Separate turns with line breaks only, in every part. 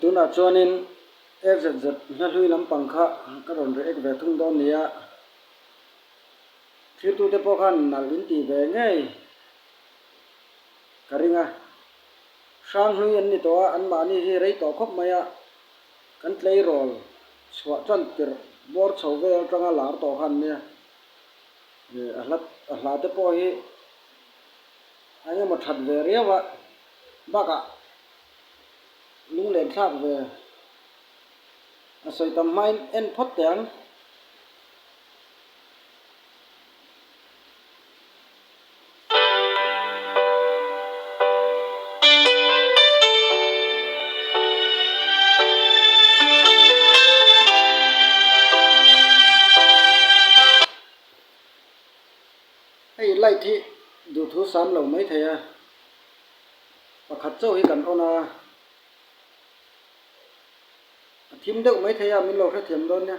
Tunah chuanin FZZ hla hlui lampang kha ka rawn ri ek ve thung dawn nia. Thlir tute pawh khan nalh in ti ve ngei ka ring a. Hrang hlui an ni tawh a, anmahni hi rei tawh khawp mai a. Kan tleirawl chhuah chuan tirh bawr chho vel atanga lar tawh khan nia. A hla te pawh hi Engemaw that ve riau a bakah lunglentlak ve a sawi tam hmain en phawt teh ang. Hei light hi duh thu sam lo mai thei a, pakhat chauh hi kan on a, a thim deuh mai thei a, min lo hrethiam dawn nia.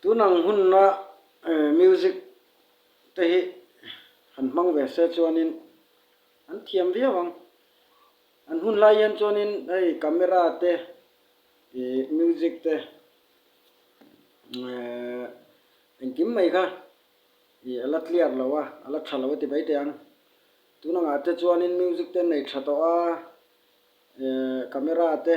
Tun ang hunna music te hi han hmang ve se chuanin an thiam viau ang. An hun lai hian chuanin hei camera te ih music te ehh engkim mai kha ih ala clear lo a, ala tha lo a ti mai teh ang. Tun angah te chuanin music te an nei tha tawh a, ehh camera te.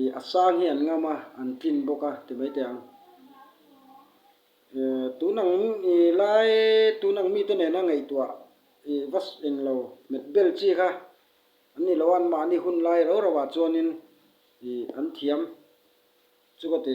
Ih a sang hi an ngam a, an tlin bawk a ti mai teh ang. Ih tun ang ih lai tun ang mite nena ngaihtuah ih va eng lo met bel chi kha an ni lo a, anmahni hun lai ro ro ah chuanin ih an thiam chu ka ti.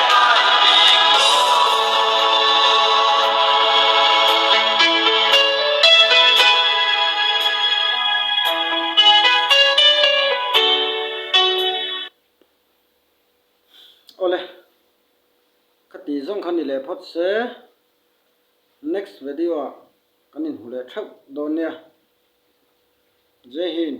Awle ka tih zawng kha ni leh phawt se next video ah kan in hmu leh theuh dawn nia jai hind.